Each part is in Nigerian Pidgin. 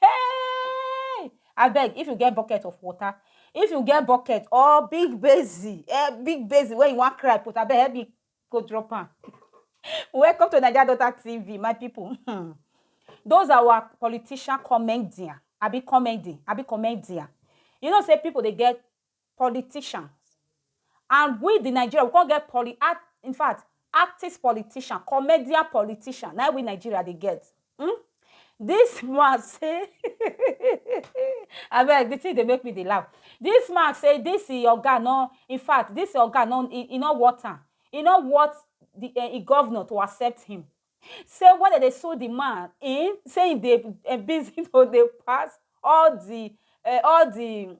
Hey! Abeg, if you get bucket of water, if you get bucket or big basin, eh, big basin where you wan cry put, abeg help me go drop am. Welcome to Naija Daughter TV, my people. Hmm. Those are our politician comedian, abi comedy, abi comedian. You know, say people they get politicians and we the Nigeria we come get poli act in fact artist politician comedian politician na we Nigeria dey get hmm? this man say abeg the thing dey make me dey laugh this man say this oga no in fact this oga no e, e no worth am e no worth the uh, e governor to accept him say when dem dey sue the man in say he dey uh, busy to dey pass all the uh, all the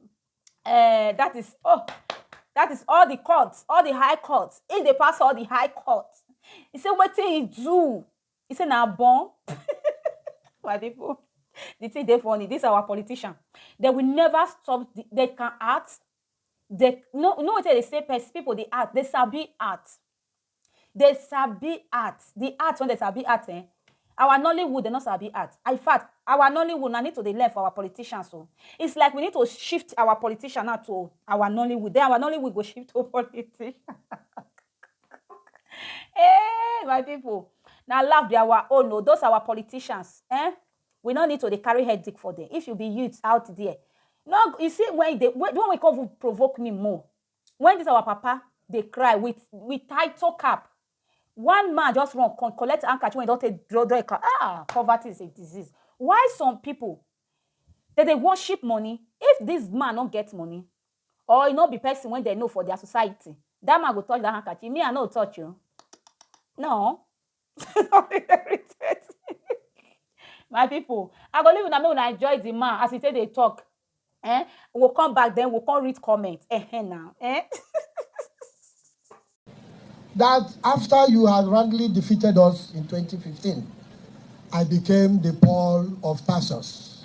eh, that is oh that is all the court all the high court he dey pass all the high court he say wetin he do he say na born my people the thing dey funny this our politician they will never stop the, they can act they no no wetin they say people dey act they sabi act Dey sabi art, the art wey dey sabi art ehn, our Nollywood dey no sabi art. In fact, our Nollywood na need to dey learn from our politicians oh. It's like we need to shift our politicians now to our Nollywood. Den our Nollywood go shift to politicians. Ehh my people, na laugh be our own oh. Those our politicians ehn, we no need to dey carry head dig for dem. If you be youth out there, no you see when you dey, the one wey con even provoke me more, When this our papa dey cry with with title cap, one man just run come collect handkerchief when he don take draw draw a ah poverty is a disease. Why some people they dey worship money if this man no get money or he no be person when they know for their society that man go touch that handkerchief me I no touch you no my people i go leave una make una enjoy the man as he take dey talk eh we go come back then we go come read comment eh eh na eh that after you had roundly defeated us in 2015, I became the Paul of Tarsus.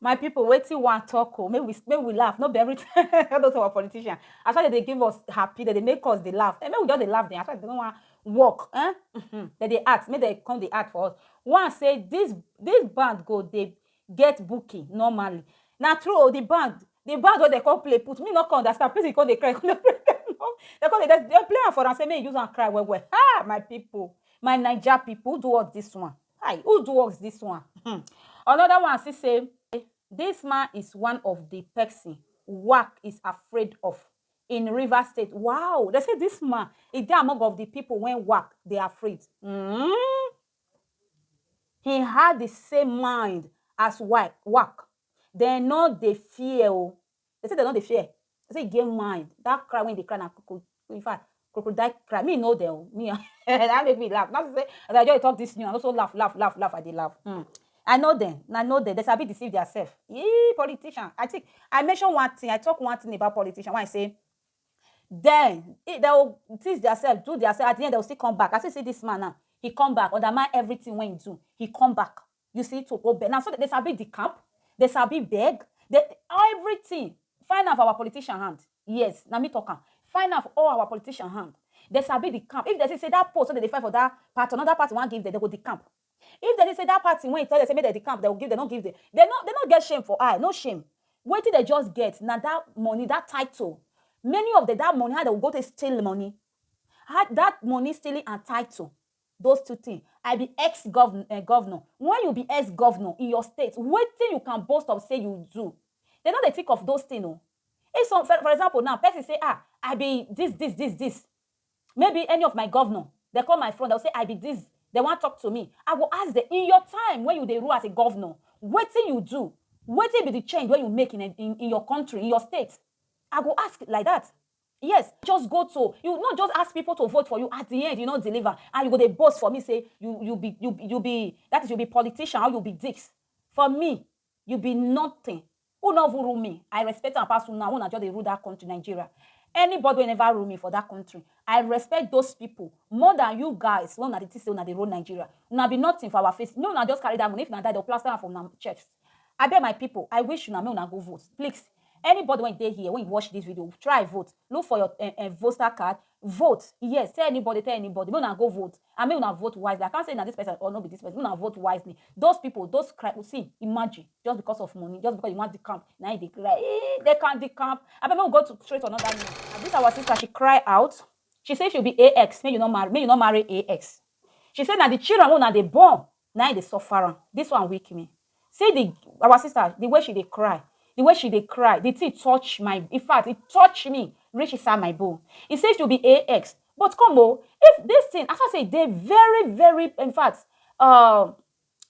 my people wetin wan talk oh make we make we laugh no be everything all those our politician as far as they give us happy that they make us dey laugh and eh, make we just dey laugh dem as far as they no wan work eh mm -hmm. dem dey act make dem come dey act for us one say this this band go dey get booking normally na true o the band the band wey dem come play put me no come understand person come dey cry come dey play dem come dey dem play am for am say make e use am cry well well ah my people my naija people who do us this one hi who do us this one hmm another one still say this man is one of the person work is afraid of in River State wow they say this man e dey among of the people when work dey afraid mm He had the same mind as work. work. They no dey fear. Oh. They say they no dey fear. They say he get mind. That cry when they cry now, in fact, crocodile cry. Me know them. Oh. Me, that make me laugh. Not to say, as I just talk this new, I also laugh, laugh, laugh, laugh. I they laugh. Mm. I know them. I know them. They sabi deceive themselves. Yee, politician. I think I mentioned one thing. I talk one thing about politician when I say den dey go tease dia sef do dia sef at di end dey go still come back as you see dis man now he come back undermine everytin wey he do he come back you see to go beg na so dem dey sabi di camp dey sabi beg dey everytin find am for our politician hand yes na me talk am find am for all our politician hand dey sabi di camp if dey see say dat post wey dem dey fight for dat part anoda party wan give dem dey go di camp If dem dey say that party when he tell dem say make dem the camp dem go give dem no give dem dem no dem no get shame for eye no shame wetin dem just get na that money that title many of dem that money how dem go go take steal money how that money stealing and title those two thing I be ex governor eh governor when you be ex governor in your state wetin you can boast of say you do dem no dey think of those thing o if some for example now person say ah I be this this this this maybe any of my governor dem come my front dem go say I be this dem wan talk to me I go ask dem in your time when you dey rule as a governor wetin you do wetin be the change wey you make in in in your country in your state I go ask like that yes just go to you no just ask people to vote for you at the end you no deliver and you go dey boast for me say you you be you be that is you be politician or you be this for me You be nothing. U no even rule me. I respect am pass una una just dey rule that country Nigeria. Anybody wey never rule me for that country, I respect those people more than you guys wey una dey think say una dey rule Nigeria. Una be nothing for our face. Make una just carry that money. If una die, dem go plaster am for una chest. Abeg my people, I wish una make una go vote. Please, anybody wey dey here, wey watch this video, try vote. Look for your um um voter card, Vote, yes, tell anybody, tell anybody, make una go vote and make una vote wisely. I can't say na this person or no be this person, make una vote wisely. Those people, those cry, see, imagine, just because of money, just because you want the camp, now they cry, eh, they can't the camp. I mean, we go to straight to another news. And this our sister, she cry out. She say she'll be AX, make you not marry, make you not marry AX. She say na the children wey una dey born na im dey suffer am this one weak me see the our sister the way she dey cry the way she dey cry the thing touch my in fact e touch me reach inside my bone e say to be ax but come o if this thing as I say e dey very very in fact uh,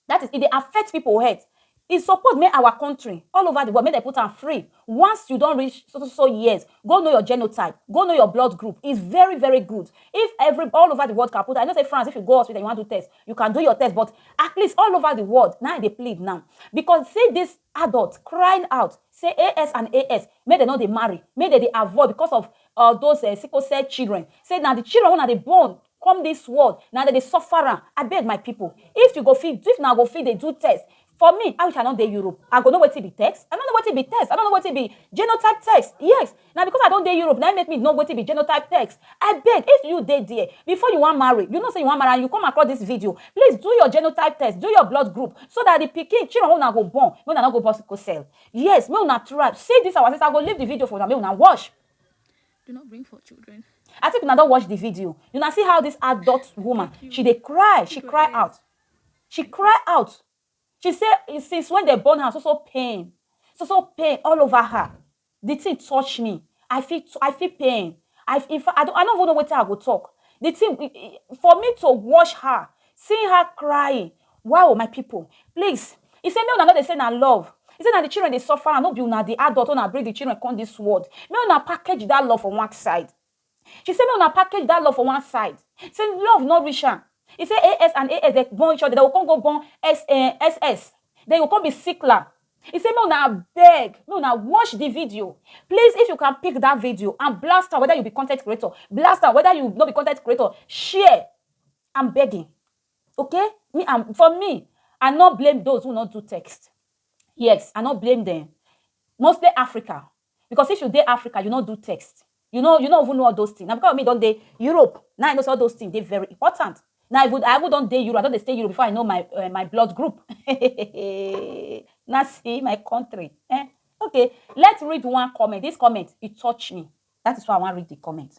that is e dey affect people health E suppose make our country, all over the world, make dem put am free. Once you don reach so so so years, go know your genotype, go know your blood group. It's very very good. If every, all over the world can put am, I know say France, if you go hospital, you wan do test, you can do your test, but at least all over the world, na im I dey plead now. Because see this adult crying out say AS and AS, make dem no dey marry, make dem dey avoid because of all those um sickle cell children. Say na the children wey una dey born come this world na dem dey suffer am abeg my people if you go fit if na go fit dey do test for me i wish i no dey europe i go know wetin be text i no know wetin be text i no know wetin be genotype text yes na because i don dey europe na im make me know wetin be genotype text i beg if you dey there before you wan marry you know say you wan marry and you come across this video please do your genotype test do your blood group so that the pikin children wey una go born make una no go born sickle cell yes make una try see this our sister i go leave the video for una make una watch do not bring forth children. I think una don watch the video. You na see how this adult woman, she dey cry, she cry out. She cry out. She say eh, since when they born her, so so pain, so so pain all over her. The thing touch me. I feel I feel pain. I in fact I don't I don't even know what I go talk. The thing for me to watch her, seeing her crying, Wao my pipo please e say make una no dey say na love e say na di children dey suffer am no be una di adult wey una bring di children come dis world make una package dat love for one side she say make una package dat love for one side say love no reach am e say AS and AS dem born each other dem go come go born SS den e go come be Sikla e say make una abeg make una watch di video please if you can pick dat video and blast am weda you be content creator blast am weda you no be content creator share am begging. Okay me am for me I no blame those who no do text yes I no blame them mostly Africa because if you dey Africa you no do text you no you no even know all those things na because me don dey Europe now I know say all those things dey very important now I even I even don dey Europe I don dey stay Europe before I know my uh, my blood group na see my country eh okay let's read one comment this comment it touch me that is why I wan read the comment.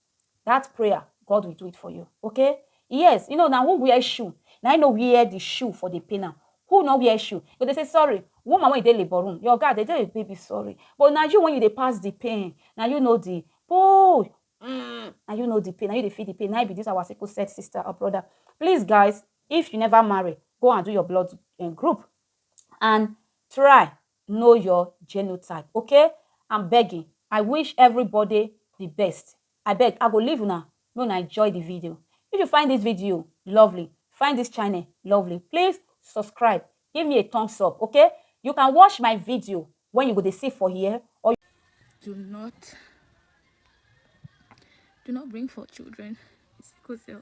that prayer god will do it for you okay yes you know now who wear shoe Now i know wear the shoe for the pain am who no wear shoe but they say sorry woman when they labor room your guy they tell baby sorry but now you when you they pass the pain now you know the oh mm, now you know the pain now you they feel the pain now be this our sickle set sister or brother please guys if you never marry go and do your blood eh, group and try know your genotype okay I'm begging I wish everybody the best I beg I go leave una make una enjoy the video if you find this video lovely find this channel lovely please subscribe give me a thumbs up okay you can watch my video when you go dey see for here or do not do not bring for children sickle cell